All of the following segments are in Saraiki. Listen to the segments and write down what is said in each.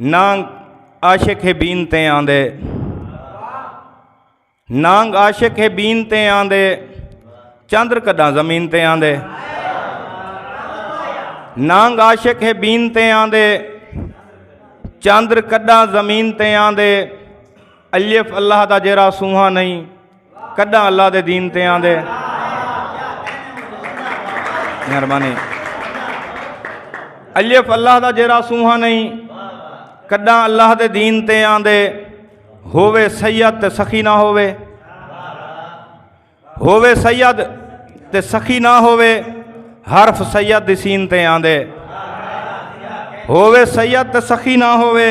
نانگ عاشق ہے بین تے آندے نانگ عاشق ہے بین تے آندے چندر کداں زمین تے آندے نانگ عاشق ہے بین تے آندے چندر کداں زمین تے آندے الف اللہ دا جیرا سوہا نہیں کڈاں اللہ دے دین تے آندے مہربانی الف اللہ دا جیرا سوہا نہیں کڈاں اللہ دے دین تے آندے ہووے سید تے سخی نہ ہووے ہووے سید تے سخی نہ ہووے حرف سید دی سین تے آندے ہووے سید تے سخی نہ ہووے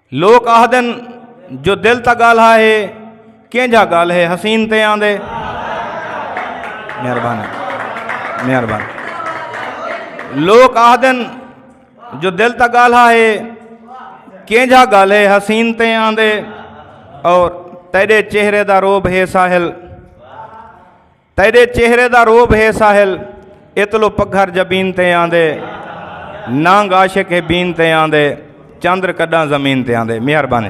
لوک آہدن جو دل تا گال ہا ہے کینجھا گال ہے حسین تے آندے مہربان مہربان لوک آہدن جو دل تا گال ہا ہے کینجھا گال ہے حسین تے آندے اور تیرے چہرے دا روب ہے ساحل تیڈے چہرے دا روب ہے ساحل اتلو پگھر جبین تے آندے نانگ عاشق ہے بین تے آندے چندر کڈاں زمین تے آندے مہربانی